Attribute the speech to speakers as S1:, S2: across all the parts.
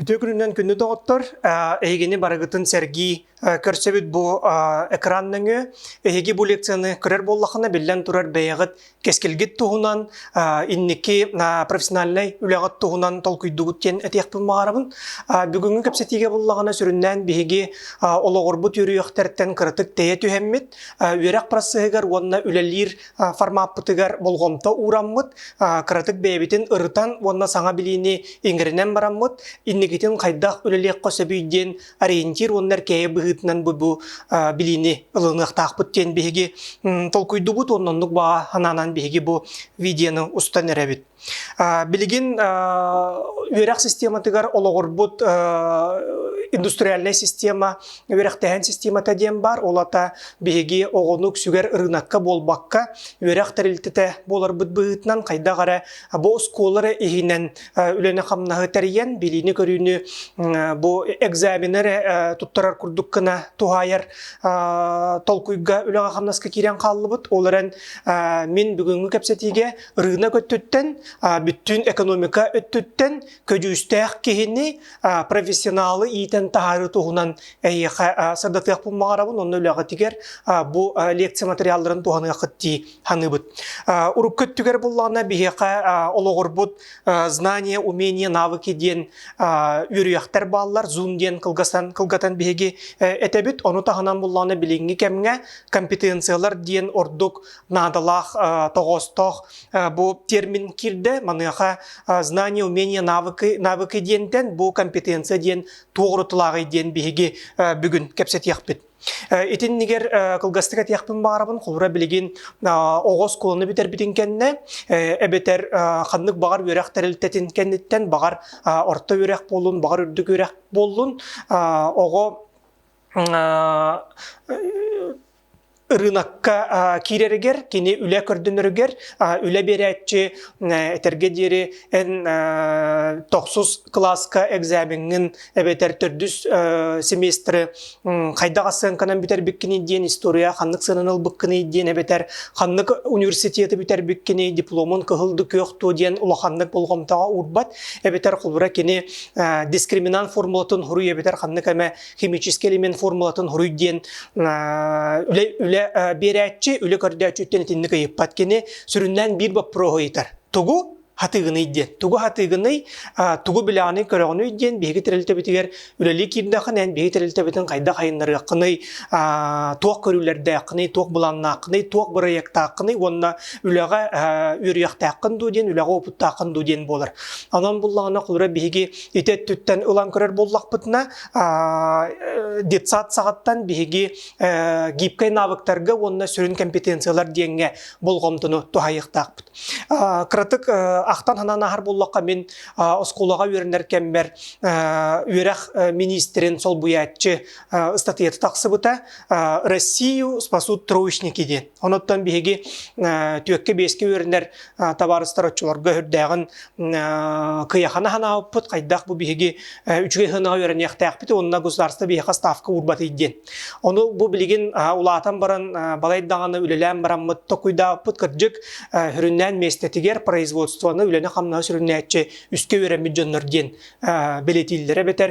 S1: Үтүө күнүнэн күннү доҕоттор. Эһигини барыгытын сэргии көрсөбүт бу экран нөҥүө. Эһиги бу лекцияны көрөр буоллахына, биллэн турар, бэйэҕит кэскилгит туһунан, инники профессиональнай үлэҕит туһунан толкуйдугут диэн этиэхпин баҕарабын. Бүгүҥҥү кэпсэтиигэ буллаҕына, сүрүннээн биһиги олоҕурбут үөрүйэхтэртэн кыратык тэйэ түһэммит, үөрэх процеһыгар уонна үлэлиир формаппытыгар болҕомто уураммыт, кыратык бэйэбитин ырытан уонна саҥа билиини иҥэринэн бараммыт, инникитин хайдах үлэлиэххэ сөбүй диэн ориентир уонна эркээйи быһыытынан бу бу билиини ылыныахтаахпыт диэн биһиги толкуйдубут, оннук баҕа санаанан биһиги бу видеоны устан эрэбит. Билигин үөрэх систематыгар олоҕурбут индустриальнай система, үөрэхтэһэн системата диэн баар, ол ата биһиги оҕону үксүгэр ырыынакка буолбакка, үөрэх тэрилтэтэ буоларбыт быһыытынан хайдах эрэ бу оскуолалары иһинэн үлэни-хамнаһы тэрийэн, билиини-көрүүнү бу экзамены эрэ туттарар курдук гына туһаайар толкуйга үлэҕэ-хамнаска киирэн хааллыбыт. Ол эрэн мин бүгүҥҥү кэпсэтиигэ Рынок өттүттэн, бүттүүн экономика өттүттэн көдьүүстээх киһини, профессионалы иитэн таһаарыы туһунан эйиэхэ сырдатыахпын баҕарабын. Онно үлэҕитигэр бу лекция материалларын туһаныаххыт дии саныыбыт. Урукку өттүгэр буллаҕына биһиэхэ олоҕурбут знания, умения, навыки диэн үөрүйэхтэр бааллар. Zoom диэн кылгасан кылгатан биһиги этэбит. Ону таһынан буллаҕына билиҥҥи кэмҥэ компетенциялар диэн ордук наадалаах тоҕоостоох бу термин кирдэ маныаха знания умения навыки навыки диэнтэн бу компетенция диэн туоҕурутулааҕый диэн биһиги бүгүн кэпсэтиэхпит Итиннигэр кылгастык этиэхпин баарабын холура билигин оҕо оскуоланы бүтэрбитин кэннэ эбэтэр ханнык баҕар үөрэх тэрилтэтин кэнниттэн баҕар орто үөрэх буоллун баҕар үрдүк үөрэх буоллун оҕо ырыынакка киирэригэр, кини үлэ көрдөнөрүгэр үлэ биэрээччи этэргэ диэри эн тохсус кылааска экзамеҥҥын эбэтэр төрдүс семестры хайдах сыаҥканан бүтэрбиккиний диэн история ханнык сыананы ылбыккыный диэн эбэтэр ханнык университеты бүтэрбиккиний дипломун кыһылды күөх туо диэн улаханнык болҕомтоҕо уурбат эбэтэр холобура кини дискриминант формулатын хоруй эбэтэр ханнык эмэ химический элемент формулатын хоруй диэн үлэ, үлэ биэрээччи, үлэ көрдөөччү үттэн итинник ыйыппат кини сүрүннээн биир боппуруоһу ыйытар. Тугу Хатыгыный диэн. Тугу Хатыгыный, тугу билэҕиний, көрөҕүнүй диэн биһиги тэрилтэбитигэр үлэлии киирдэххинэ, биһиги тэрилтэбитин хайдах айыннарыаххыный, туох көрүүлэрдээххиний, туох былааннааххыный, туох бырайыактааххыный уонна үлэҕэ үөрүйэхтээххин дуу диэн, үлэҕэ уопуттааххын дуу диэн буолар. Онон буллаҕына, кулура биһиги ити өттүттэн ылан көрөр буоллахпытына, детсад саҕаттан биһиги гибкэй навыктарга уонна сүрүн компетенциялар диэҥҥэ болҕомтону туһайыахтаахпыт. Кыратык ахтан-санаан аһар буллахха мин оскуолаҕа үөрэнэр кэммэр үөрэх министрин солбуйааччы ыстатыйата тахсыбыта Россию спасут троечники диэн. Онуттан биһиги түөккэ-биэскэ үөрэнэр табаарыстар оччолорго үрдээҕин кыйахана ханаабыппыт, хайдах бу биһиги үчүгэй сыанаҕа үөрэниэхтээхпит уонна государство биһиэхэ ставка уурбат диэн. Ону бу билигин улаатан баран балай даҕаны үлэлээн бараммыт токуйдаабыппыт кырдьык сүрүннээн миэстэтигэр производствоны үлэни-хамнаһы сүрүннээччи үскэ үөрэммит дьоннор диэн бэлэтииллэрэ эбэтэр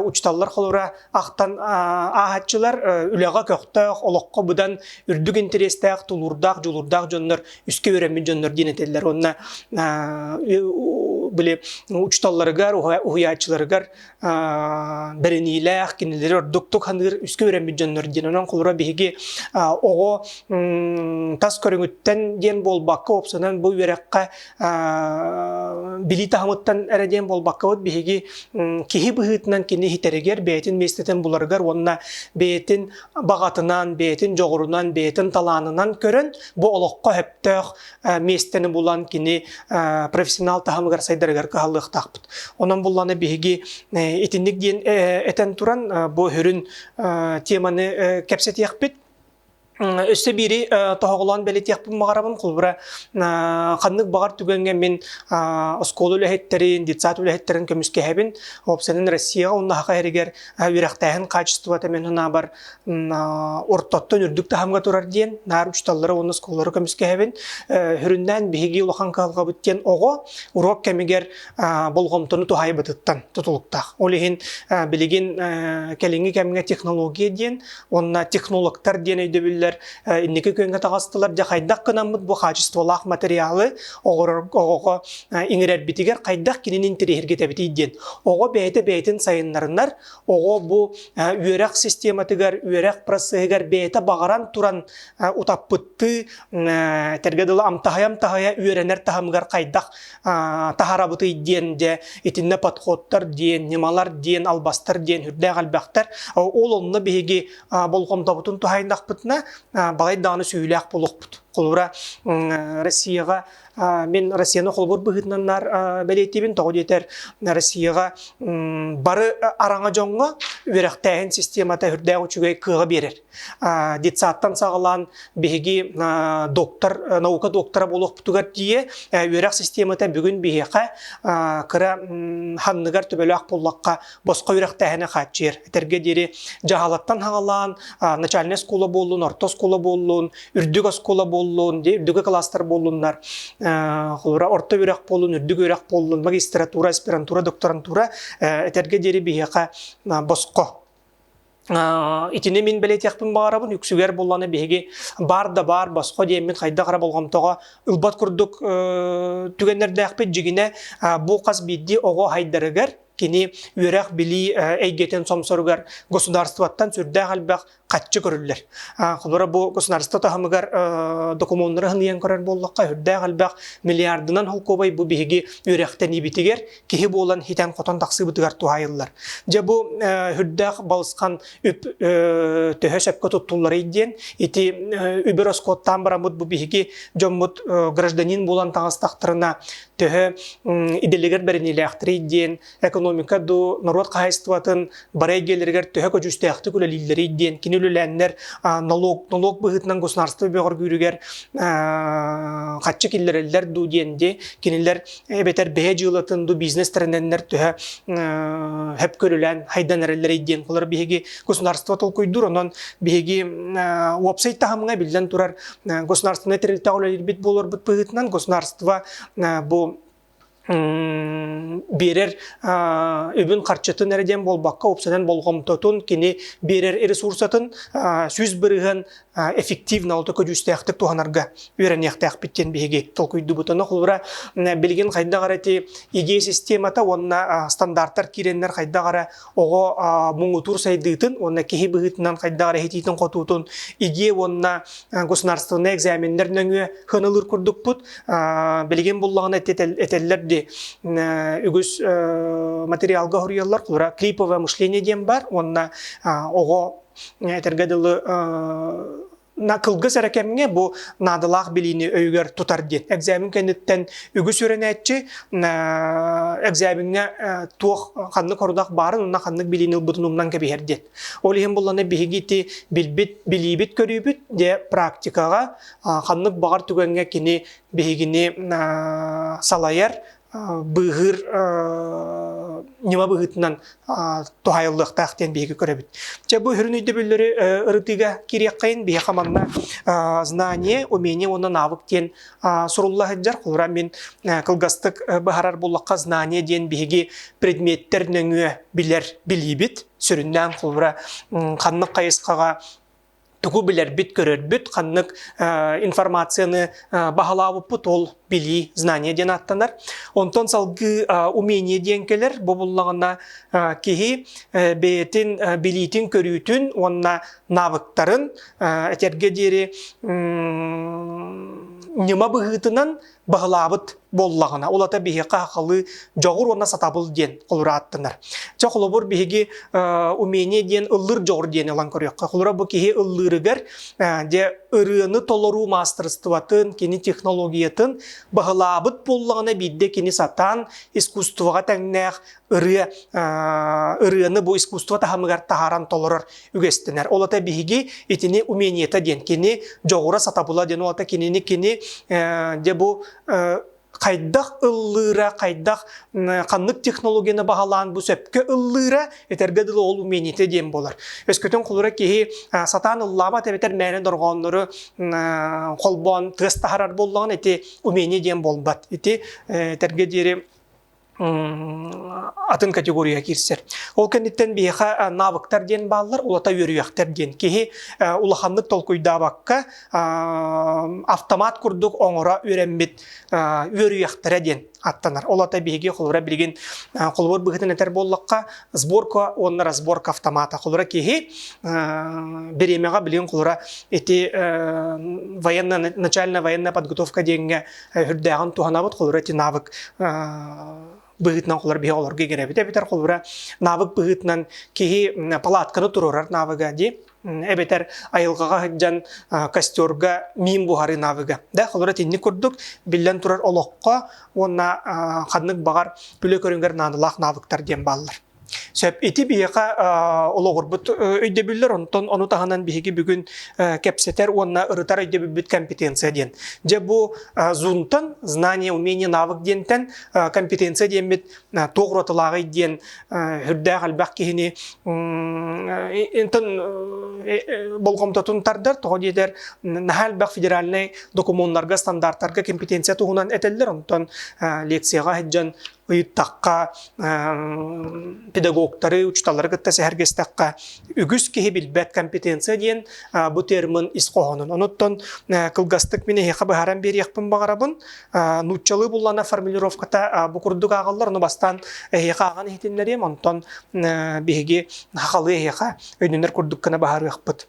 S1: учууталлар холобура ахтан ааһаччылар үлэҕэ көхтөөх, олоххо быдан үрдүк интэриэстээх, тулуурдаах, дьулуурдаах дьоннор, үскэ үөрэммит дьоннор диэн этэллэр. Уонна били учууталларыгар, уһуйааччыларыгар бэриниилээх, кинилэри ордуктук саныыр үскэ үөрэммит дьоннор диэн. Онон холура биһиги оҕо тас көрүҥүттэн диэн буолбакка, уопсанан бу үөрэххэ билии таһымыттан эрэ диэн буолбаккабыт биһиги киһи быһыытынан кини иһитэригэр бэйэтин миэстэтин буларыгар уонна бэйэтин баҕатынан, бэйэтин дьоҕурунан, бэйэтин талаанынан көрөн бу олоххо сөптөөх миэстэни булан кини профессионал таһымыгар сайдарыгар кыһаллыахтаахпыт. Онон буллана биһиги итинник диэн этэн туран бу үрүн теманы кэпсэтиэхпит. Өссө биири тоһоҕолоон бэлитиэхпин баҕарабын, холобура, ханнык баҕар түгэҥҥэ мин оскуола үлэһиттэрин, детсад үлэһиттэрин көмүскэһэбин. Ол сэнэн Россияҕа уонна саха иһэригэр үөрэхтээһин хаачыстыбата мин санаабар ортоттон үрдүк таһымҥа турар диэн наар учууталлары уонна оскуолалары көмүскэһэбин. Э, Хүрүннээн биһиги улахан кыһалҕабыт диэн оҕо уруок кэмигэр болҕомтону туһайбытыттан тутулуктаах. Ол иһин билигин кэлиҥҥи кэмҥэ технология диэн уонна технологтар диэн өйдөбүллэр инники күөҥҥэ таҕыстылар. Дьэ хайдах гынаммыт бу хаачыстыбалаах материалы оҕоҕо иҥэрэрбитигэр хайдах кинини интэриэһиргитэбитий диэн оҕо бэйэтэ бэйэтин сайыннарынар оҕо бу үөрэх систематыгар үөрэх процеһыгар бэйэтэ баҕаран туран утаппыттыы этэргэ дылы амтаһайа-амтаһайа үөрэнэр таһымыгар хайдах таһарабытый диэн дьэ итиннэ подходтар диэн ньымалар диэн албастар диэн үрдээх элбэхтэр ол онно биһиги болҕомтобутун туһайдахпытына балай даҕаны сүһүлээх болохпут холура Россияҕа мен Россияны холбор быһыытынан бэлиэтиибин тоҕо диэтэр Россияҕа бары араҥа дьоҥҥо үөрэхтээһин системата үрдээх үчүгэй кыаҕа биэрэр детсадтан саҕалаан биһиги доктор, наука доктора буолуохпутугар тиийэ үөрэх системата бүгүн биһиэхэ кыра ханныгар төбөлөөх буллахха босхо үрэхтээһини хааччыйар. Этэргэ диэри дьаһалаттан хаҕалаан начальнай оскуола буоллун, орто оскуола буоллун, үрдүк оскуола буоллун, үрдүкү класстар буоллуннар, орто үөрэх буоллун, үрдүк үөрэх буоллун, магистратура, аспирантура, докторантура этэргэ диэри биһиэхэ босхо Итини мин билетиэхпин баҕарабын. Үксүгэр булланы биһиги баар да баар босхо диэммин хайдах эрэ болҕомтоҕо ылбат курдук түгэннэрдээхпит. Дьигинэ бу хас биирдии оҕо хайдарыгар кини үөрэх-билии эйгэтин сомсоругар государствоттан сүрдээх элбэх хаччы көрүллэр. Холобура бу государство таһымыгар докумуоннары хыныйан көрөр буоллахха, үрдээх элбэх миллиардынан холкуобай бу биһиги үөрэхтэниибитигэр киһи буолан итэн-хотон тахсыыбытыгар туһаайыллар. Дьэ бу үрдээх балысхан үп төһө сөпкө туттулларый диэн ити үбү роскоттаан бараммыт бу биһиги дьоммут гражданин буолан таҕыстахтарына төһө идэлигэр бэринилээхтэрий диэн экономика дуу норуот хаһайыстыбатын Бары эйгэлэригэр төһө көдьүүстээхтик үлэлииллэрий диэн кини үлэлээннэр налог, налог быһыытынан государство бөҕөргүүрүгэр хаччы киллэрэллэр дуу диэн де кинилэр эбэтэр бэһэ дьыылатын дуу бизнес тэринэннэр төһө хөп көрүлээн хайдан эрэллэрий диэн былыр биһиги государство толкуйдуур онон биһиги уопсай таһымҥа биллэн турар государственнай тэрилтэҕэ үлэлиирбит буоларбыт быһыытынан государство бу биэрэр үбүн-харчытын эрэ диэн буолбакка, уопсанан болҕомтотун, кини биэрэр ресурсатын сүүс бырыһын эффективно олто көдьүүстээхтик туһанарга үөрэниэхтээхпит диэн биһиги толкуйдубут. Ону холбура билигин хайдах эрэ ити идея системата уонна стандартар киирэннэр хайдах эрэ оҕо муҥутуур сайдыытын уонна киһи быһыытынан хайдах эрэ иһитиитин-хотуутун идиэ уонна государственнай экзаменнэр нөҥүө ханылыр курдукпут билигин буллаҕына этэллэр ди үгүс материалга хоруйаллар кулура клиповое мышление диэн бар уонна оҕо этэргэ дылы На кылгыс эрэ кэмҥэ бу наадалаах билиини өйүгэр тутар диэн. Экзамен кэнниттэн үгүс үөрэнээччи экзамеҥҥа туох ханнык хорудах баарын уонна ханнык билиини ылбытын умнан кэбиһэр диэн. Ол иһин буллана биһиги ити билбит, билиибит көрүүбүт дьэ практикаҕа ханнык баҕар түгэҥҥэ кини биһигини салайар, быыһыыр ньыма быһыытынан туһайыллыахтаах диэн биһиги көрөбүт. Дьэ, бу сүрүн өйдөбүллэри ырытыыга киириэххин. Биһиэхэ манна знание, умение уонна навык диэн сурулла сылдьар. Холобура, мин кылгастык быһаарар буоллахха, знание диэн биһиги предметтэр нөҥүө билэр, билиибит. Сүрүннээн, холобура, ханнык хайысхаҕа тугу билэрбит-көрөрбүт, ханнык информацияны баһылаабыппыт ол билии, знание диэн ааттанар. Онтон салгыы умение диэн кэлэр, бу буллаҕына киһи бэйэтин билиитин-көрүүтүн уонна навыктарын этэргэ диэри ньыма быһыытынан баһылаабыт буоллаҕына, улата биһиэхэ хахалыы дьоҕур уонна сатабыл диэн холура ааттанар. Чэ, холобур, биһиги умение диэн ыллыр дьоҕур диэн ылан көрүөххэ. Холура бу киһи ыллырыгар дьэ ырыаны толоруу маастырыстыбатын, кини технологиятын баһылаабыт буоллаҕына биирдэ кини сатаан искусствоҕа тэҥнээх ырыа, ырыаны бу искусство таһымыгар таһааран толорор үгэстэнэр. Ол ата биһиги итини умениета диэн кини дьоҕура сатабыла диэн ол ата кинини кини дьэ бу хайдах ыллыыра, хайдах ханнык технологияны баһылаан бу сөпкө ыллыыра, этэргэ дылы ол умениете диэн болар. Өскөтүн холура киһи сатаан ыллаабат эбэтэр мээнэ дорҕооннору холбоон тыас таһарар боллоҕун ити умение диэн буолбат. Ити этэргэ диэри атын категория киирсэр. Ол кэнниттэн биһиэхэ навыктар диэн бааллар, улата үөрүйэхтэр диэн. Киһи улаханнык толкуйдаабакка автомат курдук оҥоро үөрэммит үөрүйэхтэрэ диэн аттанар. Ол ата биһиги холобура билигин холобур быһыытын этэр буоллахха, сборка уонна разборка автомата. Холобура киһи бириэмэҕэ билигин холобура ити военная начальная военная подготовка диэҥҥэ үрдээҕин туһанабыт холура ити навык быһыытынан холур биһи олорго игирэбит эбитэр холура навык быһыытынан киһи палатканы туруорар навыга дии эбэтэр айылҕаҕа сылдьан костерга миим буһарыы навыга да холура итинник курдук биллэн турар олоххо уонна ханнык баҕар үлэ көрүҥгэр наадалаах навыктар диэн бааллар Сөп. Ити биһиэхэ олоҕурбут өйдөбүллэр, онтон ону таһынан биһиги бүгүн кэпсэтэр уонна ырытар өйдөбүлбүт компетенция диэн. Дьэ бу Zoom-тан знание, умение, навык диэнтэн компетенция диэммит туох уратылааҕый диэн үрдээх элбэх киһини болҕомтотун тардар, тоҕо диэтэр наһаа элбэх федеральнай докумуоннарга, стандартарга компетенция туһунан этэллэр, онтон лекцияҕа сылдьан ыйыттахха, педагогтары, учуталлары кытта сэһэргэстэххэ, үгүс киһи билбэт компетенция диэн бу термин ис хоһоонун. Онуттан кылгастык мин эһиэхэ быһааран биэриэхпин баҕарабын. Нууччалыы буллана формулировката бу курдук ааҕаллар, ону бастаан эһиэхэ ааҕан иһитиннэриэм, онтон биһиги хахалыы эһиэхэ өйдөнөр курдук гына быһаарыахпыт.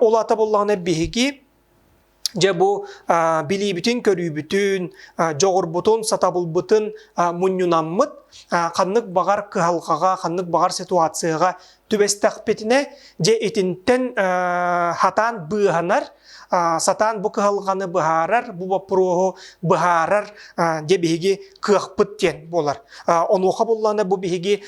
S1: Ол ата буллаҕына биһиги Дьэ бу билиибитин-көрүүбүтүн, дьоҕурбутун, сатабылбытын мунньунаммыт, ханнык баҕар кыһалҕаҕа, ханнык баҕар ситуацияҕа түбэстэхпитинэ, дьэ итинтэн хатаан быыһанар, сатаан бу кыһалҕаны быһаарар, бу боппуруоһу быһаарар дьэ биһиги кыахпыт диэн буолар. Онуоха буллаҕына бу биһиги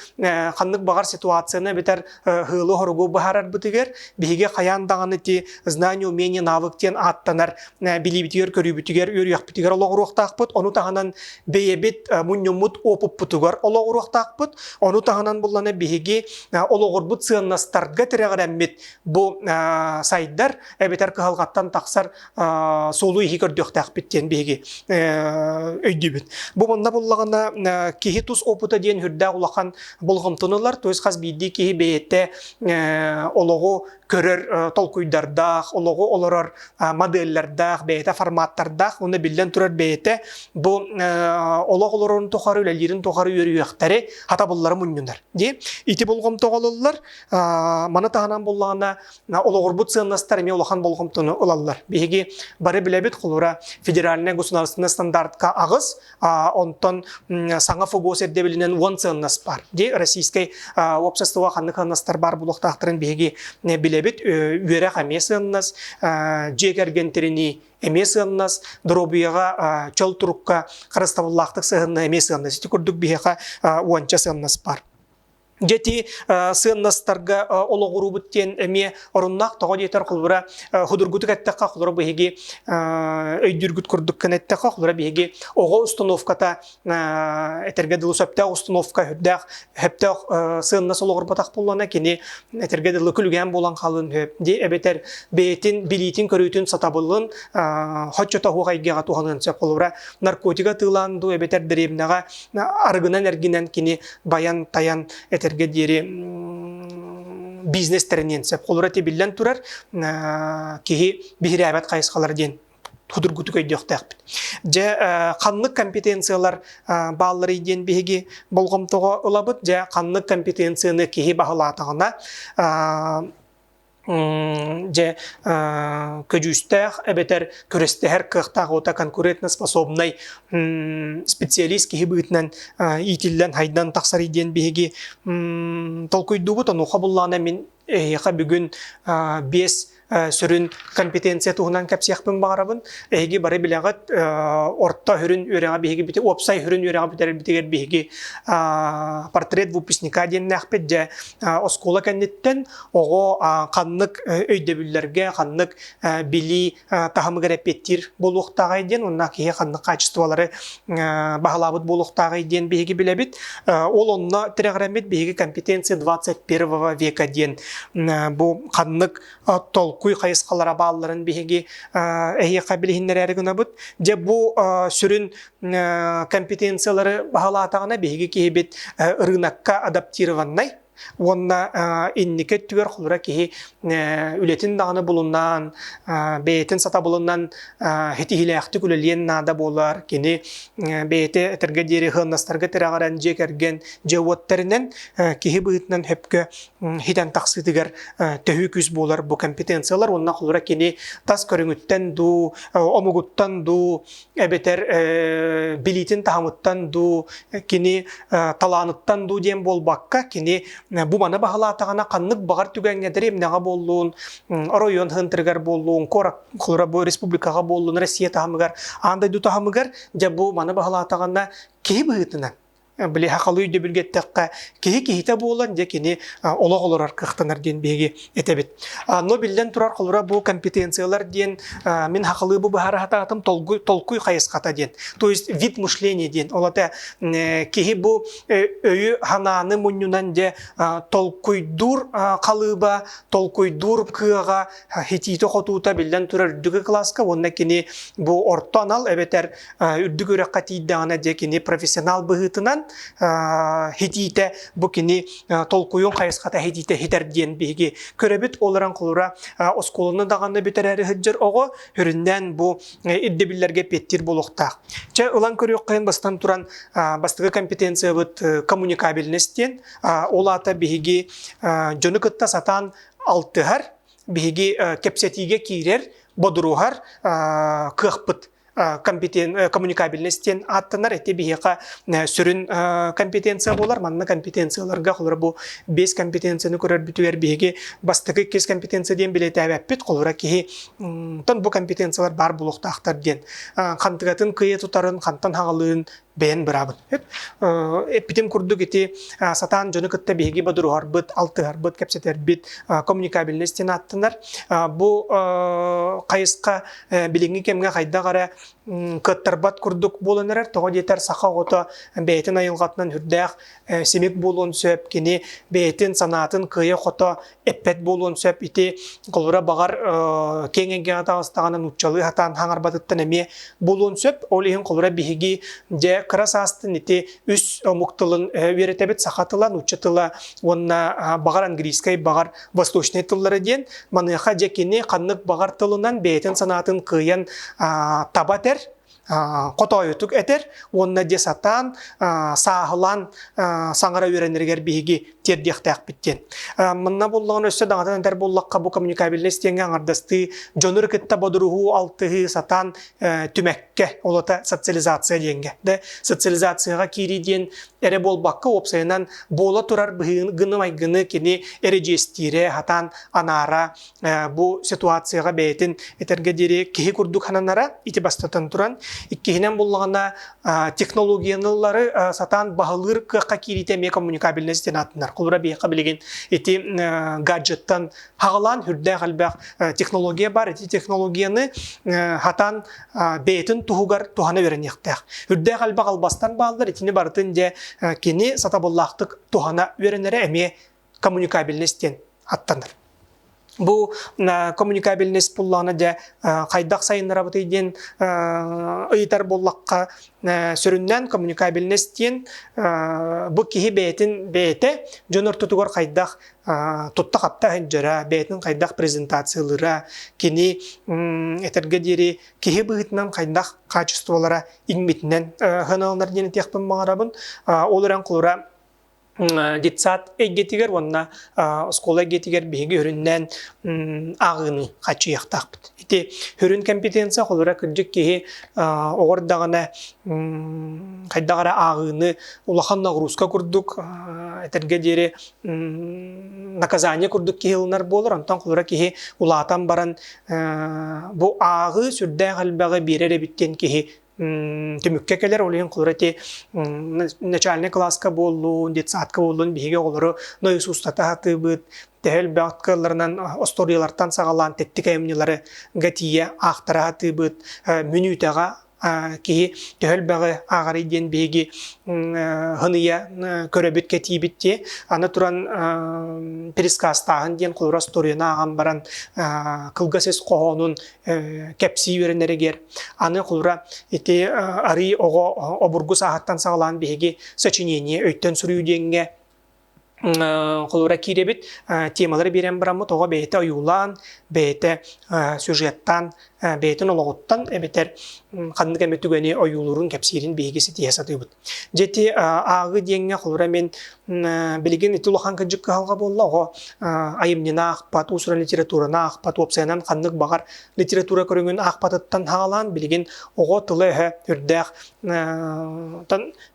S1: ханнык баҕар ситуацияны эбэтэр һылы-хоругу быһаарарбытыгар биһиги хайаан даҕаны ти знание умение навык диэн ааттанар билиибитигэр көрүүбүтүгэр үөрүйэхпитигэр олоҕуруохтаахпыт ону таһынан бэйэбит мунньуммут опуппутугар олоҕуруохтаахпыт ону таһынан буллана биһиги олоҕурбут сыаннастарга тирэҕирэммит бу сайдар эбэтэр кыһалҕаттан тахсар суолу иһи көрдүөхтээхпит диэн биһиги өйдүүбүт. Бу мунна буллаҕына киһи тус опыта диэн үрдээх улахан болҕомтонулар, то есть хас биирдии киһи бэйэтэ олоҕу көрөр толкуйдардаах, олоҕу олорор моделлердаах, бэйэтэ форматтардаах уонна биллэн турар бэйэтэ бу олох олорорун тухары үлэлиирин тухары үөрүйэхтэри хатабыллары мунньунар. Ити болҕомто оҕололлор. Маны таһынан буллаҕына Олоҕурбут сыаннастар эмиэ улахан болҕомтону ылаллар. Биһиги бары билэбит, холура федеральнай государственнай стандартка аҕыс, онтон саҥа ФОБОС ирдэбилинэн уон сыаннас баар. Дии Российскай уопсастыба ханнык сыаннастар баар буолуохтаахтарын биһиги билэбит. Үөрэх эмиэ сыаннас, дьиэ кэргэн тиринии эмиэ сыаннас, доруобуйаҕа, чөл турукка харыстабыллаахтык сыһынна эмиэ сыаннас. Ити курдук биһиэхэ уонча сыаннас баар. Дети сыаннастарга олоҕуруубут диэн эмиэ оруннаах тоҕо диэтэр холбура худургутук эттэххэ холоро биһиги өйдүүргүт курдук гына эттэххэ холоро биһиги оҕо установката этэргэ дылы сөптөөх установка үрдээх сөптөөх сыаннас олоҕурбатах буоллана кини этэргэ дылы күлүгээн буолан хаалын сөп дии эбэтэр бэйэтин билиитин көрүүтүн сатабылын хоччото уһуох айгыаҕа туһалыан сөп холобура наркотига тыылаан дуу эбэтэр дэриэбинэҕэ арыгынан эргинэн кини байан-тайан этэргэ диэри бизнес тэриниэн сөп. Холура тибиллэн турар киһи биһирээбэт хайысхалар диэн худургутук өйдüөхтээхпит. Дьэ, ханнык компетенциялар баалларый диэн биһиги болҕомтоҕо ылабыт. Дьэ, ханнык компетенцияны киһи баһылаатаҕына дьэ көдьүүстээх эбэтэр күрэстэһэр кыахтаах уота конкурентоспособнай специалист киһи быытынан иитиллэн хайдан тахсар диэн биһиги толкуйдуубут онуха буллаҕына мин эһиэхэ бүгүн биэс сүрүн компетенция туһунан кэпсиэхпин баҕарабын эһиги бары билэҕит орто сүрүн үөрэҕи биһиги бити уопсай сүрүн үөрэҕи бүтэрэрбитигэр биһиги портрет выпускника диэннээхпит дьэ оскуола кэнниттэн оҕо ханнык өйдөбүллэргэ, ханнык билии таһымыгар эппиэттиир буолуохтааҕай диэн уонна киһи ханнык хаачыстыбалары баһылаабыт буолуохтааҕай диэн биһиги билэбит. Ол онно тирэҕирэммит биһиги компетенция 21 века диэн бу ханнык толкуй хайысхалара баалларын биһиги эһиэхэ билиһиннэрээри гынабыт. Дьэ бу сүрүн компетенциялары баһылаатаҕына биһиги киһибит ырыынакка адаптированнай Уонна инники өттүгэр холура киһи үлэтин даҕаны булунан, бэйэтин сатабылынан ситиһиилээхтик үлэлиэн наада буолар. Кини бэйэтэ этэргэ диэри сыһыаннастарга тирэҕирэн дьиэ кэргэн дьиэ-уоттарынан киһи быһыытынан сөпкө ситэн тахсыытыгар төһүү күүс буолар бу компетенциялар уонна холура кини тас көрүҥүттэн дуу, омугуттан дуу эбэтэр билиитин таһымыттан дуу, кини талааныттан дуу диэн буолбакка, кини бу маны баһылаатаҕына ханнык баҕар түгэҥҥэ дэриэбинэҕэ буоллун, оройуон хантырыгар буоллун, куорат бу республикаҕа буоллун, Россия таһымыгар, аан дойду таһымыгар, дьэ бу маны баһылаатаҕына киһи быһыытынан Билиһэ халыы өйдөбүлгэ эттэххэ, киһи киһитэ буолан, дьэ кини олох олорор кыахтанар диэн биһиги этэбит. Но биллэн турар, холобура бу компетенциялар диэн мин хахылыы бу быһаара сатаатым толкуй толкуй хайысхата диэн. То есть вид мышления диэн. Ол это киһи бу өйү санааны мунньунан дьэ толкуйдуур халыыба, толкуйдуур кыаҕа итиитэ-хотуута биллэн турар үрдүкү кылааска уонна кини бу орто анал эбэтэр үрдүк үрэххэ тиийдэҕинэ дьэ кини профессионал быһыытынан итиитэ бу кини толкуйун хайысхата итиитэ иһитэр диэн биһиги көрөбүт ол эрэн холура оскуоланы даҕаны бүтэрээри сылдьар оҕо үрүннээн бу ирдэбиллэргэ петтир буолуохтаах чэ ылан көрүөххэйин бастан туран бастакы компетенциябыт коммуникабельность диэн ол аата биһиги дьону кытта сатаан алтыһар, биһиги кэпсэтиигэ киирэр, бодуруһар кыахпыт коммуникабельность диэн ааттанар эти биһиэхэ сүрүн компетенция буолар манна компетенцияларга холобура бу бес компетенцияны көрөрбүтүгэр биһиги бастакы иккис компетенция диэн билетээбэппит холобура киһи тон бу компетенциялар баар буолуохтаахтар диэн хантыгатын кыйы тутарын хантан хагалыын бэйэн быраабын. Эппитим курдук ити сатаан дьону кытта биһиги бодоруһарбыт, алтыһарбыт, кэпсэтэрбит коммуникабельнай стен ааттанар. Бу хайысха билиҥҥи кэмҥэ хайдах эрэ кыаттарбат курдук буолан эрэр. Тоҕо диэтэр саха оҕото бэйэтин айылҕатынан үрдээх симик буолуон сөп. Кини бэйэтин санаатын кыайа-хото эппэт буолуон сөп ити холура баҕар киэҥ эйгэҕэ таҕыстаҕына нууччалыы хатаан хаҥарбатыттан эмиэ буолуон сөп ол иһин холура биһиги дьэ кыра саастын ити үс омук тылын үөрэтэбит саха тыла нуучча тыла уонна баҕар английскай баҕар восточнай тыллары диэн маныаха дьэ кини ханнык баҕар тылынан бэйэтин санаатын кыайан таба этэр хотоойутук этэр уонна дьэ сатаан сааһылаан саҥара үөрэнэригэр биһиги тиэрдиэхтээхпит диэн. Манна буллаҕын өссө даҕатан этэр буллахха бу коммуникабельнай стеҥҥэ аҥардастыы дьонур кытта бодуруһуу алтыһыы сатаан түмэккэ олото социализация диэҥҥэ. Да социализацияҕа киирии диэн эрэ буолбакка уопсайынан буола турар быһыыны майгыны кини эрэдьиэстиирэ хатаан анаара бу ситуацияҕа бэйэтин этэргэ диэри киһи курдук сананара ити бастатан туран иккиһинэн буллаҕына технологияны ыллары сатаан баһылыыр кыахха киириитэ эмиэ коммуникабельность диэн аатынар холура биһиэхэ билигин ити гаджеттан хаҕылаан үрдээх элбэх технология баар ити технологияны хатан бэйэтин туһугар туһана үөрэниэхтээх үрдээх элбэх албастан бааллар итини барытын дьэ кини сатабыллаахтык туһана үөрэнэрэ эмиэ коммуникабельность диэн аттанар. Бу коммуникабельность буллаҕына дьэ хайдах сайыннарабытый диэн ыйытар буоллахха сүрүннээн коммуникабельность диэн бу киһи бэйэтин бэйэтэ дьон ортотугар хайдах тутта-хапта сылдьара, бэйэтин хайдах презентациялыыра, кини этэргэ диэри киһи быһыытынан хайдах качестволара иҥмитинэн сыаналанар диэн этиэхпин баҕарабын. Ол эрэн холура детсад эйгэтигэр уонна оскуола эйгэтигэр биһиги үрүннээн ааҕыыны хаччыйахтаахпыт. Ити үрүн компетенция холура кырдьык киһи оҕор даҕаны хайдах эрэ ааҕыыны улахан нагрузка курдук этэргэ диэри наказание курдук киһи ылынар буолар онтон холура киһи улаатан баран бу ааҕыы сүрдээх элбэҕи биэрэр эбит диэн киһи түмүккэ кэлэр ол иһин кылыр ити начальнай кылааска буоллун детсадка буоллун биһиги оҕолору дойус устата сатыыбыт төһө элбэх кыалларынан остуоруйалартан саҕалаан тэттик айымньылары гатия аахтара сатыыбыт мүнүүтэҕэ киһи төһө элбэҕи ааҕарый диэн биһиги хыныйа көрөбүт кэтиибит дии аны туран пересказтааһын диэн холура остуоруйаны ааҕан баран кылгас ис хоһоонун кэпсии үөрэнэригэр аны холура ити арыы оҕо обургу сааһыттан саҕалаан биһиги сочинение өйтөн суруйуу диэҥҥэ холура киирэбит темалары биэрэн бараммыт оҕо бэйэтэ ойуулаан бэйэтэ сюжеттаан бэйэтин олоҕуттан эбэтэр ханнык эмэ түгэни ойуулуурун кэпсиирин биһиги ситиһэ сатыыбыт Дьэти ааҕы диэҥҥэ холура мин билигин ити улахан кыдьык кыһалҕа буолла оҕо айымньыны аахпат, уусуран литератураны аахпат, уопсайынан ханнык баҕар литература көрүҥүн аахпатыттан хаалаан билигин оҕо тыла-өһө үрдээх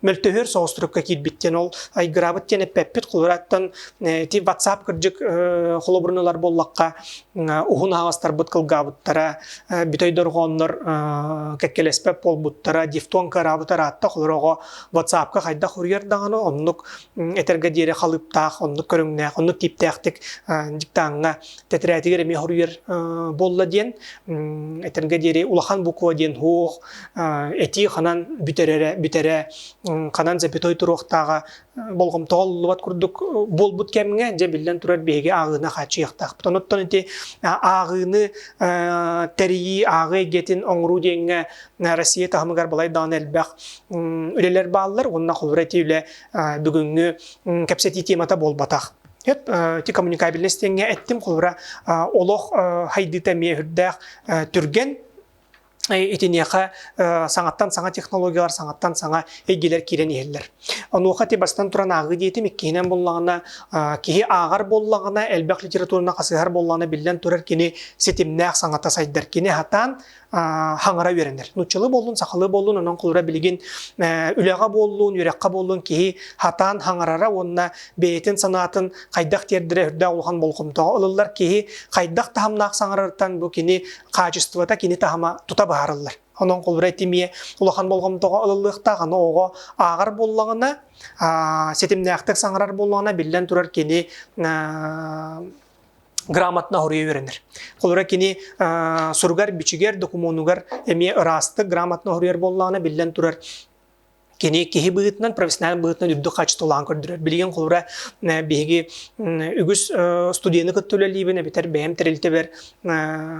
S1: мөлтөһөр соҕустурукка киирбит диэн ол айгыраабыт диэн эппэппит холурааттан ити ватсап кырдьык холобурун ылар буоллахха уһун аһаҕастарбыт кылгаабыттара, бүтэй дорҕооннор кэккэлэспэт буолбуттара, дифтон кыараабыт арааттах олороҕо, ватсапка хайдах уруйар даҕаны, оннук этэргэ диэри халыыптаах, оннук көрүҥнээх, оннук типтээхтик диктаҥҥа тэтирээтигэр эмиэ хоруйар буолла диэн, этэргэ диэри улахан буква диэн суох, этии ханан бүтэрэрэ, бүтэрэ, ханан запятой туруохтааҕа болҕомтоҕо уллубат курдук буолбут кэмҥэ дьэ биллэн турар биһиги ааҕыыны хааччыйыахтаахпыт. Онуттан ити ааҕыыны тэрийии, ааҕыы эйгэтин оҥоруу диэҥҥэ Россия таһымыгар балай даҕаны элбэх үлэлэр бааллар уонна холобура ити үлэ бүгүҥҥү кэпсэтии темата буолбатах. Ити коммуникабельность диэҥҥэ эттим холобура олох хайдыыта эмиэ үрдээх түргэн итиниэхэ саҥаттан саҥа технологиялар саҥаттан саҥа эйгилэр киирэн иһэллэр. Онуоха ти бастан туран ааҕыы диэтим иккиһинэн буллаҕына киһи ааҕар буоллаҕына элбэх литератураны хасыһар буоллаҕына биллэн турар кини ситимнээх саҥата сайдар кини хатаан хаҥара үөрэнэр нуччалыы буоллун сахалыы буоллун онон холура билигин үлэҕэ буоллун үөрэххэ буоллун киһи хатаан хаҥарара уонна бэйэтин санаатын хайдах тиэрдэрэ үрдээх улахан болҕомтоҕо ылыллар киһи хайдах таһымнаах саҥарартан бу кини хаачыстыбата кини таһыма тута быһаарыллар. Онон холбура этимие улахан болғомтоға ылыллыахтаах, аны оҕо ааҕар боллаҕына, ситимнээхтик саҥарар боллаҕына, биллэн турар кини грамотно хоруйа үөрэнэр. Холура кини суругар, бичигэр, докумуонугар эмиэ ыраастык грамотно хоруйар боллаҕына, биллэн турар Кини киһи быһыытынан, профессионал быһыытынан үрдүк хаачыстыбалаан көрдөрөр. Билигин холобура биһиги үгүс студияны кытта үлэлиибин, эбэтэр бэйэм тэрилтэбэр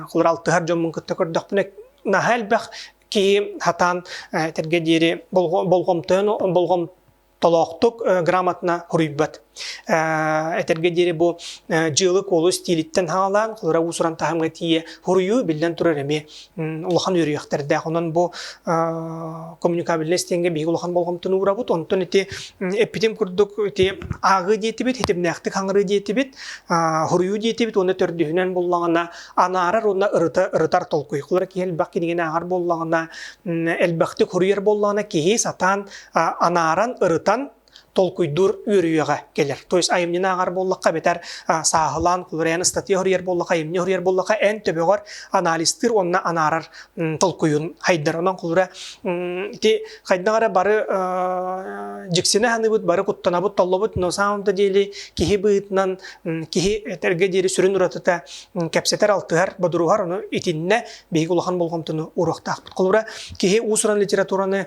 S1: холобура алтыһар дьоммун кытта көрдөхпүнэ, наһаа элбэх киһи сатаан этэргэ диэри болҕомтону болҕомтолоохтук грамотна хоруйбат. Этэргэ диэри бу дьыала-куолу стилиттэн хаалаан, кылыра уусуран таһымга тиийэ хоруйу биллэн турар эмиэ улахан үөрүйэхтэрдээх. Онон бу коммуникабельнай стеҥҥэ биһиги улахан болҕомтону уурабыт. Онтон ити эппитим курдук ити ааҕыы диэтибит, хитимнээхтик хаҥырыы диэтибит, хоруйу диэтибит уонна төрдүһүнэн буоллаҕына анаарар уонна ырытар толкуйкулар киһи-элбэх кинигэни ааҕар буоллаҕына, элбэхтик хоруйар буоллаҕына киһи сатаан анааран, ырытан толкуйдуур үөрүйэҕэ кэлэр. То есть айымньыны ааҕар буоллахха эбэтэр сааһылаан кулуруйан ыстатыйа хоруйар буоллахха, айымньы хоруйар буоллахха эн төбөҕөр анализтыыр уонна анаарар толкуйун хайдар. Онон кулуруйа ити хайдах эрэ бары дьиксинэ саныыбыт, бары куттанабыт, толлобут, но самом деле киһи быһыытынан киһи этэргэ диэри сүрүн уратыта кэпсэтэр, алтыһар, бодоруһар, ону итиннэ биһиги улахан болҕомтону уруохтаахпыт. Кулура киһи уус-уран литератураны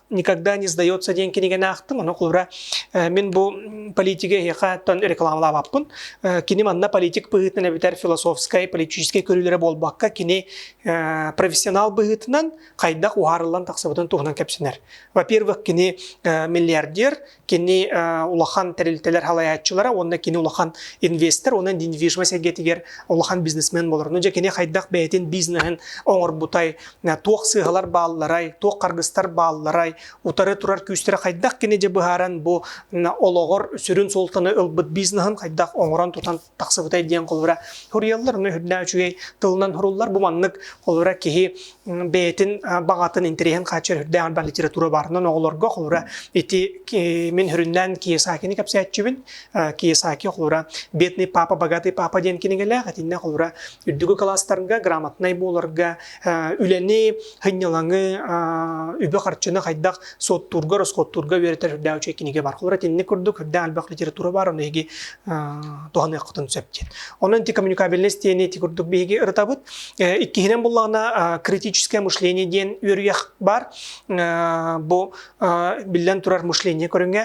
S1: никогда не сдается диэн кинигэн аахтым ону кура мин бу политига эһиэхаттан рекламалаабаппын кини манна политик быһыытынан эбитэр философскай политическай көрүүлэрэ буолбакка кини профессионал быһыытынан хайдах уһаарыллан тахсыбытын туһунан кэпсэнэр во-первых кини миллиардер Кини улахан тэрилтэлэр салайааччылара уонна кини улахан инвестор уонна недвижимость эйгэтигэр улахан бизнесмен буоларын. Дьэ кини хайдах бэйэтин бизнеһин оҥорбутай, туох сыыһалар баалларай, туох харгыстар баалларай, утары турар күүстэрэ хайдах кини дьэ быһааран бу олоҕор сүрүн суолтаны ылбыт бизнеһин хайдах оҥорон тутан тахсыбытай диэн холура суруйаллар оны үрдаа үчүгэй тылынан суруллар бу маннык холура киһи бэйэтин баҕатын интэриһин хааччар үрдээн бар литература барынан оҕолорго холура ити мин хүрүннээн Киесакини кэпсээччүбүн Киесаки холура бедный папа богатый папа диэн кинигэлээх этиннэ холура үрдүгү класстарга грамотнай буоларга үлэни, хынньылаҥы, үбэ-харчыны хайдах суоттуурга, роскоттуурга үөрэтэр үрдээх үчүгэй кинигэ бар. Холобура, итинник курдук үрдээх элбэх литература бар, ону эһиги туһаныаххытын сөп диэн. Онон ити коммуникабельность диэни ити курдук биһиги ырытабыт. Иккиһинэн буллаҕына критическое мышление диэн үөрүйэх бар. Бу Биллэн турар мышление көрүҥэ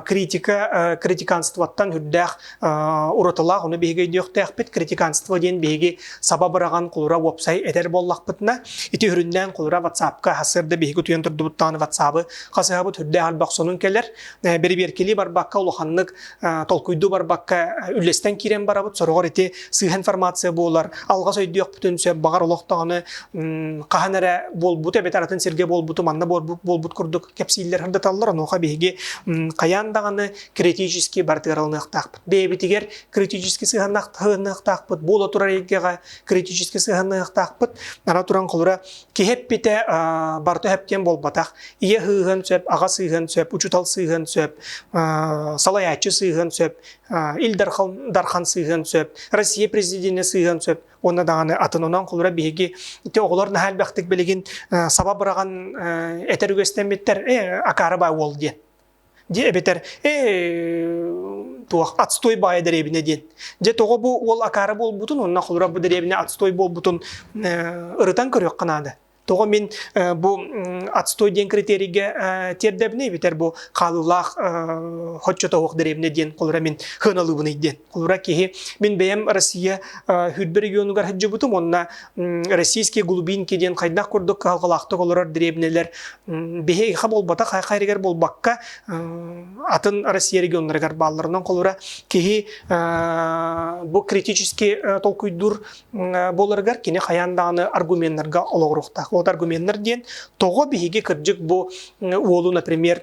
S1: критика критиканствоттан үрдээх уратылаах ону биһиги өйдүөхтээхпит критиканство диэн биһиги саба быраҕан кулура уопсай этэр буоллахпытына ити үрүннээн кулура ватсапка сырда биһиги туйан турдубуттаҕына ватсабы хасыһабыт үрдээх альбах сонун кэлэр бэрибиэркилии барбакка улаханнык толкуйду барбакка үллэстэн киирэн барабыт сороҕор ити сыһа информация буолар алҕас өйдүөхпүтүн сөп баҕар олохтооҕуну хаһан эрэ буолбут эбэтэр атын сиргэ буолбуту манна буолбут курдук кэпсииллэр сырдаталлар онуоха биһиги хайаан даҕаны критически бартыараланыахтаахпыт бэйэбитигэр критически сыһаныахтаахпыт буола турар эйгэҕэ критически сыһаныахтаахпыт ара туран холура Киһи эппитэ барыта сөптен буолбатах. Ийэ сыыһын сөп, аҕа сыыһын сөп, учутал сыыһын сөп, салайааччы сыыһын сөп, Ил Дархан сыыһын сөп, Россия президенэ сыыһын сөп уонна даҕаны атынынан холура биһиги ити оҕолор наһаа элбэхтик билигин саба быраҕан этэр үгэстэммиттэр акаары баа уол диэн дии эбэтэр ээ туох отстой баайа дэриэбинэ диэн дьэ тоҕо бу уол акаары буолбутун уонна холура бу дэриэбинэ отстой буолбутун ырытан көрүөххэ наада тоҕо мин бу отстой диэн критерийгэ тиэрдэбинэ эбэтэр бу хаалыылаах хоччотоох дэриэбинэ диэн холура мин хыаналыыбыный диэн куура киһи. Мин бэйэм Россия хүрбэ регионугар сылдьыбытым уонна Российский Глубинки диэн хайдах курдук кыһалҕалаахтык олорор дребнэлэр биһиэхэ буолбатах хайхайрыгар буолбакка атын Россия регионнарыгар баалларынан холура киһи бу критически толкуйдуур буоларыгар кини хайаан даҕаны аргуменнарга олоҕуруохтаах. Вот аргуменнар диэн тоҕо биһиги кырдьык бу уолу, например,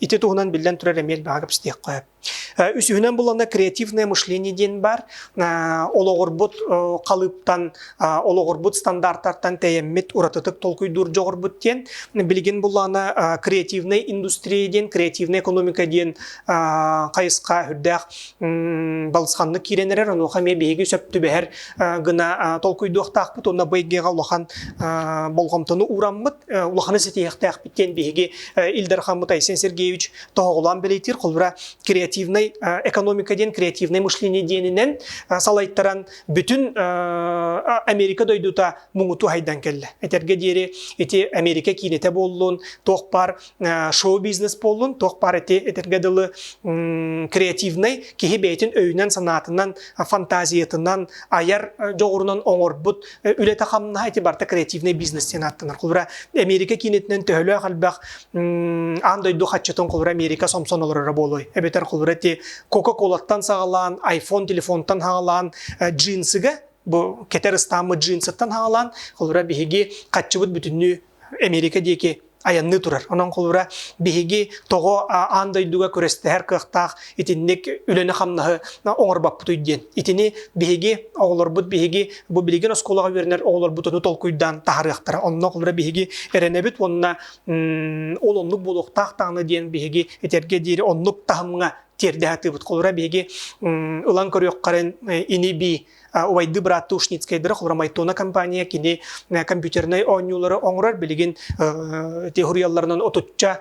S1: ити туһунан биллэн турар эмиэ элбэҕи кэпсэтиэххэ үсүһүнэн буллаҕына креативное мышление диэн баар олоҕурбут халыыптан олоҕурбут стандартартан тэйэммит уратытык толкуйдуур дьоҕурбут диэн билигин буллаҕына креативнай индустрия диэн креативная экономика диэн хайысха үрдээх балысханнык киирэн эрэр онуоха эмиэ биһиги сөп түбэһэр гына толкуйдуохтаахпыт уонна бу эйгэҕэ улахан болҕомтону уураммыт улаханы ситиһиэхтээхпит диэн биһиги Ильдар Хаммутай Сен Сергеевич тоһоҕолоон бэлиэтиир холбура креативнай экономика диэн креативнай мышление диэнинэн салайтаран бүтүн Америка дойдута муҥуту хайдан кэллэ. Этэргэ диэри ити Америка киинэтэ буоллун, туох пар шоу-бизнес буоллун, туох пар эти этэргэ дылы креативнай киһи бэйэтин өйүнэн, санаатынан, фантазиятынан, айар дьоҕурунан оҥорбут үлэтэ-хамнаһа ити барта креативнай бизнес диэн ааттанар. Холбура Америка киинэтинэн төһөлөөх элбэх аан дойду хаччытын холбура Америка сомсон олороро буолуой. Эбэтэр холбура ити Кока-Колаттан саҕалаан, iPhone телефонтан саҕалаан джинсыга бу кэтэр ыстааммыт джинсыттан хаалан холура биһиги хаччыбыт бүтүннүү Эмиэрикэ диэки айанныы турар. Онон холура биһиги тоҕо аан дойдуга күрэстэһэр кыахтаах итинник үлэни-хамнаһы оҥорбоппутуй диэн. Итини биһиги оҕолорбут биһиги бу билигин оскуолаҕа үөрэнэр оҕолорбут ону толкуйдаан таһарыахтара. Онно холура биһиги эрэнэбит уонна ол оннук буолуохтаах даҕаны диэн биһиги этэргэ диэри оннук таһымҥа тиэрдэ сатыыбыт. Холура биһиги ылан көрүөххэрин ини-бии Убайды брат Тушницкайдырах Урамайтона компания кини компьютернай оонньуулары оҥорор билигин теорияларынан отучча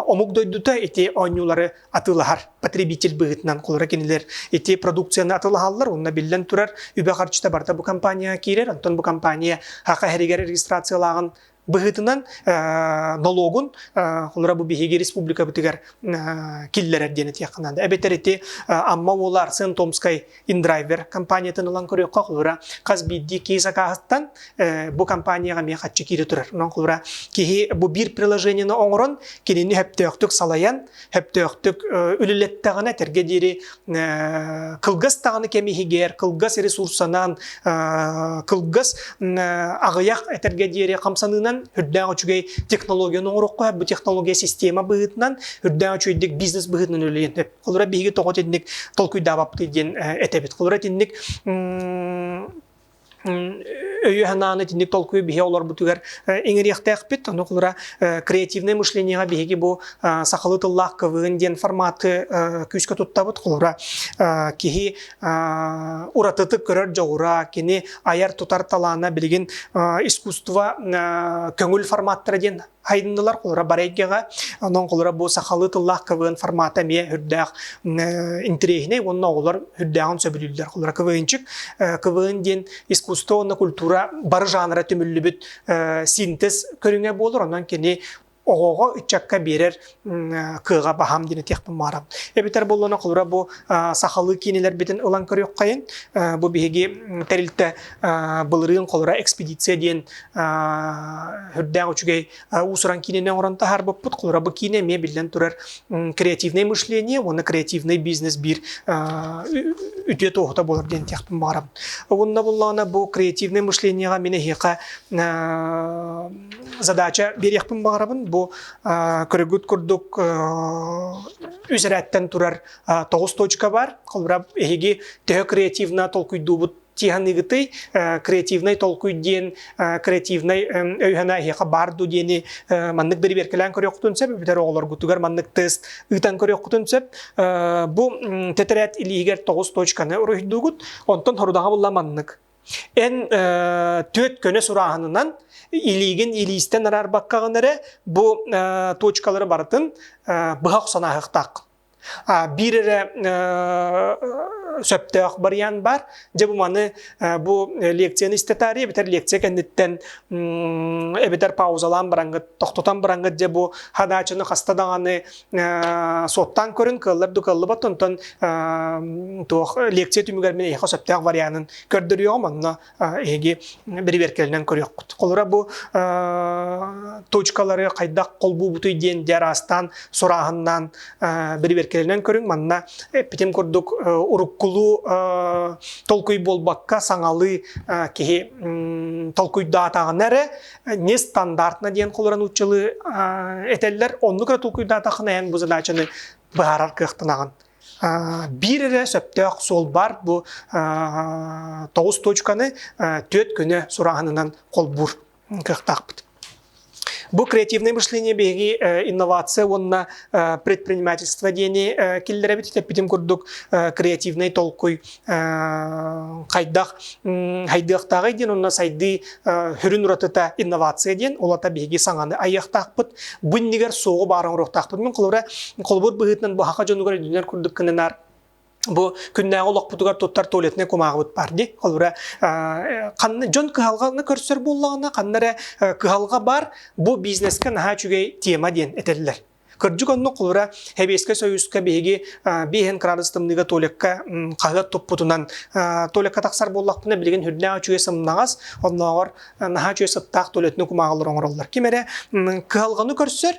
S1: омук дойдута ити оонньуулары атылаһар потребитель быһыытынан кулара кинилэр ити продукцияны атылаһаллар уонна биллэн турар үбэ харчыта барыта бу компания киирэр онтон бу компания хаһыһэригэр регистрациялааҕын быһыытынан нолуогун холура бу биһиги республикабытыгар киллэрэр диэн этиэххэ наада. Эбэтэр ити Амма уола Арсен Томскай индрайвер компаниятын ылан көрүөххэ холура хас биирдии киһи сакааһыттан бу компанияҕа эмиэ хаччы киирэ турар. Нон холура киһи бу биир приложениены оҥорон кинини сөптөөхтүк салайан Хэптөөхтүк үлэлэттэҕинэ этэргэ диэри кылгас даҕаны кэм иһигэр кылгас ресурсанан кылгас аҕыйах этэргэ диэри хамсаныынан үрдээх үчүгэй технологияны оҥороххо бу технология система быһыытынан үрдээх үчүгэйдик бизнес быһыытынан үлэлиэн сөп. Холура биһиги тоҕо итинник толкуйдаабаптый диэн этэбит. Холура итинник өйө-санааны итинник толкуй биһи олорбутугар иҥэриэхтээхпит. Ону холура креативное мышлениеҕа биһиги бу сахалыы тыллаах квн диэн форматы күүскэ туттабыт. Холура киһи уратытык көрөр дьоҕура, кини айар-тутар талаана билигин искусство көҥүл форматтара диэн Хайыннылар холура барайгега, онон холура бу сахалыы тыллаах квн формата эмиэ үрдээх интириэһинэй уонна оҕолор үрдээҕин сөбүлүүллэр холура квнчик. Квн диэн искусство уонна культура бары жанра түмүллүбүт синтез көрүҥэ буолар, онон кини оҕоҕо ыччакка биэрэр кыаҕа баһам диэн этиэхпин баарам. Эбэтэр буоллана холура бу сахалыы киинилэрбитин ылан көрүөххэйин. Бу биһиги тэрилтэ былырыын холура экспедиция диэн үрдээх үчүгэй уусуран киинэни оҥорон таһаарбыппыт. Холура бу киинэ эмиэ биллэн турар креативнай мышление уонна креативнай бизнес биир үтүө туоһута буолар диэн этиэхпин баарам. Угунна буллаҕына бу креативнай мышлениеҕа мин эһиэхэ задача биэриэхпин баҕарабын. Бу Кыргыт курдук үзэрээттэн турар тоҕус точка бар. Холбура эһиги төһө креативно толкуйдуубут тиһаныгытый креативнай толкуй диэн креативнай өйһана эһиэхэ баар ду диэни маннык дэрибиэркэлээн көрүөххүтүн сөп бүтэр оҕолоргутугар маннык тест ыытан көрүөххүтүн сөп бу тэтэрээт илииһигэр тоҕус точканы уруһуйдуугут онтон хорудаҕа булла маннык Эн түөт көнө сурааһынынан илиигин илиистен араарбаккаҕын эрэ бу точкалары барытын быһа охсунааһыктаах. Биир эрэ сөптөөх барыйаан баар. Дьэ бу маны бу лекцияны истэтаары эбэтэр лекция кэнниттэн эбэтэр паузалаан бараҥгыт, тохтотон бараҥгыт дьэ бу хадаачыны хаста даҕаны Суоттаан көрүн кыаллар да кыаллыбат, онтон туох лекция түмүгэр мин эйиэхэ сөптөөх варианын көрдөрүөҕүм, онно эһиги бэрэбиэркэлинэн көрүөххүт. Холура бу точкалары хайдах холбуубутуй диэн дьэ араастаан сурааһыннаан бэрэбиэркэлинэн көрүҥ. Манна эппитим курдук уруккулуу толкуй буолбакка саҥалыы киһи толкуйдаатаҕына эрэ нестандартно диэн холорон уччалы этэллэр оннук эрэ толкуйдаатахына эн бу задачаны быһаарар кыахтанаҕын биир эрэ сөптөөх суол бар бу тоҕус точканы түөрт күнө сураанынан холбуур кыахтаахпыт Бу креативное мышление биһиги э, инновация уонна э, предпринимательство диэни э, киллэрэбит эппитим курдук креативный толкуй хайдах хайдыахтааҕый диэн уонна сайдыы сүрүн уратыта инновация диэн улата биһиги саҥаны айыахтаахпыт бу иннигэр суоҕу баара оҥоруохтаахпыт мин холобур быһыытынан быһаха дьонугар үнүнэр курдук гынынаар бу күннээҕи олохпутугар туттар туалетнай кумааҕыбыт баар дии холобура ханна дьон кыһалҕаны көрсөр буоллаҕына ханна эрэ кыһалҕа баар бу бизнескэ наһаа үчүгэй тема диэн этэллэр Кырдьык оннук кылыра Хэбиэскэй Союзка биһиги 5 градус тымныыга Толикка хаһыат туппутунан Толикка тахсар буоллахпына билигин үрдээх үчүгэй сымнаҕас, оннооҕор наһаа үчүгэй сыттаах Толиотины кумааҕылар оҥороллор. Ким эрэ кыһалҕаны көрсөр,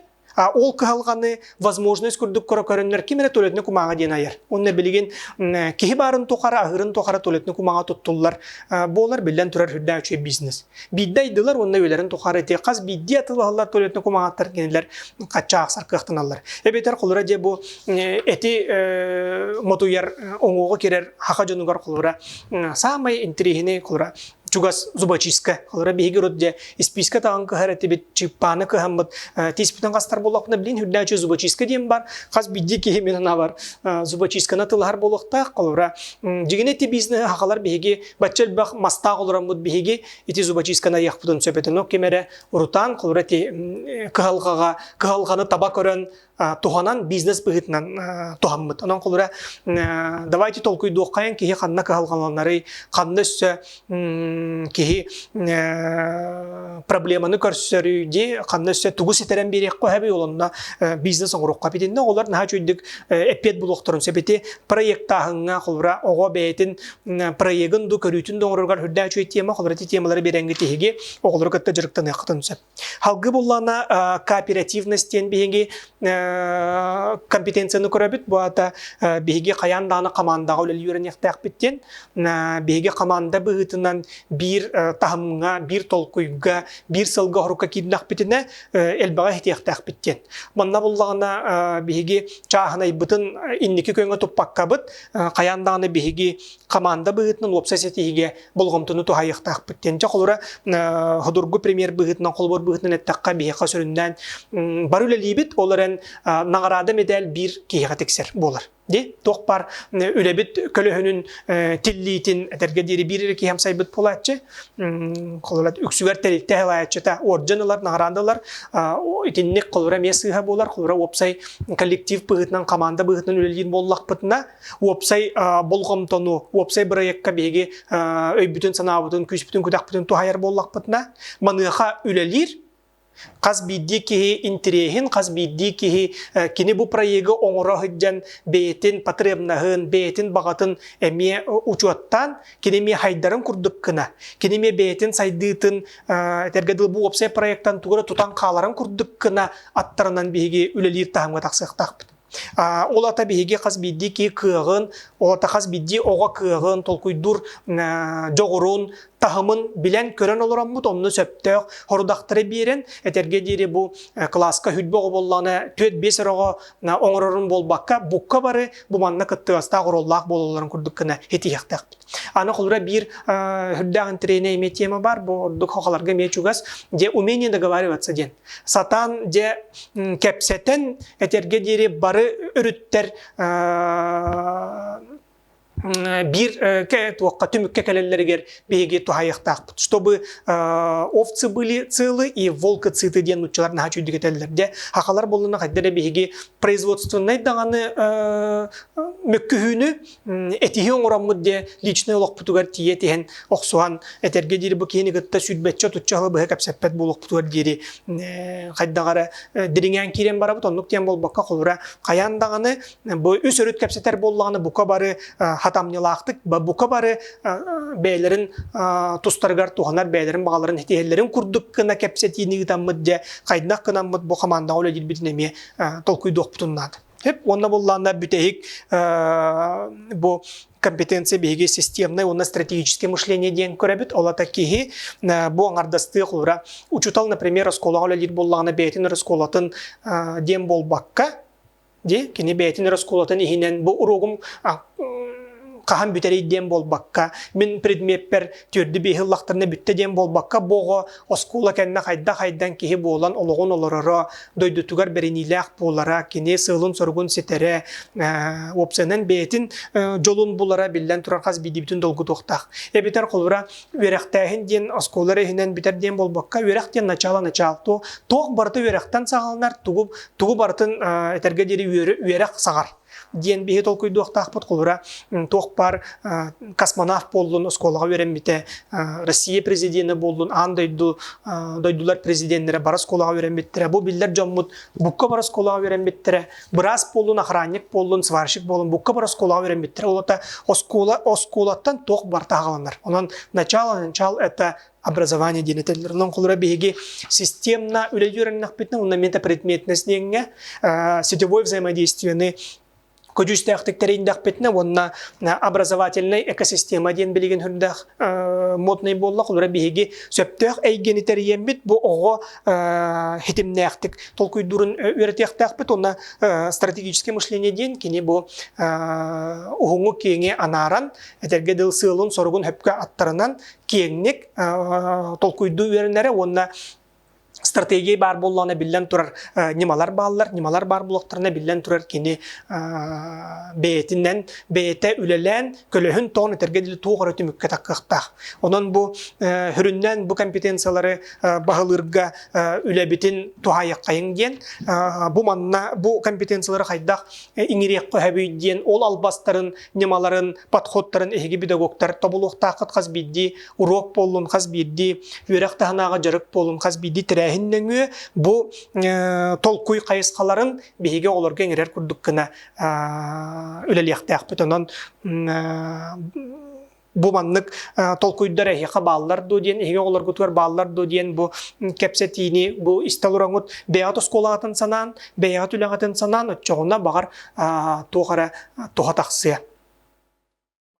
S1: ол кыһалҕаны, возможность курдук көрөннөр ким эрэ туалетный кумааҕа диэн айар. Онно билигин киһи баарын тухары, аһырын тухары туалетный кумааҕа туттуллар буолар, биллэн турар, үрдээх үчүгэй бизнес. биирдэ айдылар уонна үйэлэрин тухары те хас биирдии атылаһаллар туалетный кумаҕаттар кинилэр хаччаахсар кыахтаналлар эбэтэр холура дьэ бу эти мотуйар оҥоҕо кирэр хаха дьонугар холура саамай интириэһини холура чугас зубочистка холура биһиги урут дьэ испиискэ таҕын кыһар этибит чыыппааны кыһаммыт тииспитин хастар болуохпуна билин үрдээчи зубочистка диэн бар хас биирдии киһи мен анабар зубочистканы тылаһар болуохтаах холура дьигини ти бизнеһи хахалар биһиги Бачча элбэх мастаах олороммут биһиги ити зубочистканы айахпытын сөпөтөнө кимэрэ урутаан холура ти кыһалҕаҕа кыһалҕаны таба көрөн туһанан бизнес быһыытынан туһаммыт. Онон холура давайте толкуйдуоххайын киһи ханна кыһалҕаланарый, ханна өссө киһи проблеманы көрсөрүй дии ханна өссө тугу ситэрэн биэриэххэ хэбэй олонно бизнес оҥоруохха битиннэ оҕолор наһаа чуйдук эппиэт булуохтарын сөбүти проектааһыҥҥа холура оҕо бэйэтин проегын ду көрүүтүн да оҥороругар үрдээх үчүгэй тема холобура ити темалары биэрээҥҥит тиһиги оҕолору кытта дьарыктаныаххытын сөп халгы буллаана кооперативность диэн биһиги компетенцияны көрөбүт бу аата биһиги хайаан дааны хамаандаҕа үлэлиирниэхтээхпит диэн биһиги хамаанда быһыытынан биир таһымҥа биир толкуйга биир сылга орука киирнэхпитинэ элбэҕи этиэхтээхпит диэн манна буллаҕына биһиги чааһынайбытын инники көҥө туппаккабыт хайаан даҕаны биһиги команда быһыытынан уопсай ситиһиигэ болҕомтону туһайыахтаахпыт диэн дьэ холура ходургу премьер быһыытынан холобур быһыытынан эттэххэ биһиэхэ сүрүннээн бары үлэлиибит ол эрэн наҕараада медаль биир киһиэхэ тиксэр буолар Ди туох бар үлэбит көлөһүнүн тиллиитин этэргэ диэри биир эрэ киһи амсайбыт буолааччы холура үксүгэр тэрилтэ салайааччыта орден ылар наҕараанда ылар итинник холура эмиэ сыыһа буолар холура уопсай коллектив быһыытынан команда быһыытынан үлэлиир буоллахпытына уопсай болҕомтону уопсай бырайыакка биһиги өйбүтүн санаабытын күүспүтүн күдэхпитин туһайар буоллахпытына маныаха үлэлиир Хас биирдии киһи интириэһин, хас биирдии киһи кини бу проегы оҥоро сылдьан бэйэтин потребноһын, бэйэтин баҕатын эмиэ учуоттаан, кини эмиэ хайдарын курдук гына, кини эмиэ бэйэтин сайдыытын, этэргэ дылы бу уопсай проектан тугу эрэ тутан хааларын курдук гына аттарынан биһиги үлэлиир таһымҥа тахсыахтаахпыт. Ол ата биһиги хас биирдии киһи кыаҕын, ол ата хас биирдии оҕо кыаҕын, толкуйдуур дьоҕурун, таһымын билэн-көрөн олороммут, онно сөптөөх хорудахтары биэрэн, этэргэ диэри бу кылааска хүрбэ оҕо буоллаҕына түөрт-биэс эр оҕо оҥорорун буолбакка, букка бары бу манна кыттыгастаах, оруоллаах буолалларын курдук гына этиһиэхтээхпит. Аны холура биир үрдээх интэриэһинэй эмиэ тема бар, бу ордук хохолорго эмиэ чугас, где умение договариваться диэн. сатаан дьэ кэпсэтэн этэргэ диэри бары өрүттэр биир туохха түмүккэ кэлэллэригэр биһиги туһайыахтаахпыт чтобы овцы были целы и волка циты диэн нуччалар наһаа чүйдүк этэллэр дьэ хахалар боллуна хайда эрэ биһиги производственнай даҕаны мөккүһүүнү этиһи оҥороммут диэ личнэй олохпутугар тиийэ тиһэн охсуһан этэргэ диэри бу киһини кытта сүрбэччэ отучча халы быһа кэпсэппэт буолуохпутугар диэри хайдах эрэ дириҥээн киирэн барабыт оннук диэн буолбакка холура хайаан даҕаны бу үс өрүт кэпсэтэр буоллаҕына бука бары хатамньылаахтык бука бары бэйэлэрин тустарыгар туһанар бэйэлэрин баҕаларын этиһэллэрин курдук гына кэпсэтиини ыытаммыт дьэ хайдах гынаммыт бу хамаандаҕа үлэлиирбитин эмиэ толкуйдуохпутун наада уонна буллаанна бүтэһик бу компетенция биһиги системное уонна стратегическое мышление диэн көрөбүт олата киһи бу аңардастыах ура учутал например оскуолаҕа үлэлиир буллаҕына бэйэтин оскуолатын диэн буолбакка Ди, кини бэйэтин оскуолатын иһинэн бу уруогум хаһан бүтэрий диэн буолбакка, мин предмеппэр түөрдү-биэһи ыллахтарына бүттэ диэн буолбакка, бу оҕо оскуола кэннэ хайда-хайдан киһи буолан олоҕун олороро, дойдутугар бэриниилээх буолара, кини сыалын-соругун ситэрэ, опциянан бэйэтин дьолун булара биллэн турар хас биирдиибитин долгутуохтаах. Эбэтэр холура үөрэхтээһин диэн оскуола иһинэн бүтэр диэн буолбакка, үөрэх диэн начаала начаал. Туох барыта үөрэхтэн саҕаланар, тугу барытын этэргэ диэри үөрэх саҕар. диэн биһи толкуйдуохтаахпыт холура туох баар космонавт буоллун оскуолаҕа үөрэммитэ Россия президенэ буоллун аан дойду дойдулар президеннэрэ бары оскуолаҕа үөрэммиттэрэ бу биллэр дьоммут букка бары оскуолаҕа үөрэммиттэрэ быраас буоллун охранник буоллун сварщик буоллун букка бары оскуолаҕа үөрэммиттэрэ ол оскуола оскуолаттан туох барыта аҕаланар онон начало начал это образование диэн этэллэр. Онон холура биһиги системно үлэ үөрэннэхпитинэ уонна мета предметность диэҥҥэ сетевой взаимодействияны көдьүүстээхтик тэрийдэхпитинэ уонна образовательнай экосистема диэн билигин үрдээх моднай буолла холура биһиги сөптөөх эйгэни тэрийэммит бу оҕо хитимнээхтик толкуйдуурун үөрэтиэхтээхпит уонна стратегическое мышление диэн кини бу уһуҥу киэҥи анааран этэргэ дыл сыалын соругун хөпкө аттарынан киэҥник толкуйдуу үөрэнэрэ уонна стратегия баар буоллаҕына биллэн турар ньымалар бааллар ньымалар баар буоллахтарына биллэн турар кини бэйэтинэн бэйэтэ үлэлээн көлөһүн тоон этэргэ дылы туох эрэ түмүккэ таххыахтаах онон бу сүрүннэн бу компетенциялары баһылыырга үлэбитин туһаайаххайыҥ диэн бу манна бу компетенциялары хайдах иҥириэххэ сөбүй диэн ол албастарын ньымаларын, подходтарын эһиги педагогтар тобулуохтааххыт хас биирдии, уруок буоллун хас биирдии, үөрэх таһынааҕы дьарык буолун хас биирдии тэрээһин нөҥүө бу толкуй хайысхаларын биһиги оҕолорго иҥэрэр курдук гына үлэлиэхтээхпит. Онон бу маннык толкуйдар эһиэхэ бааллар дуо диэн, эһиги оҕолоргутугар бааллар дуо диэн бу кэпсэтиини, бу истэл ороҥут бэйэҕит оскуолаҕытын санаан, бэйэҕит үлэҕитин санаан, оччоҕуна, баҕар, туох эрэ туһа тахсыа.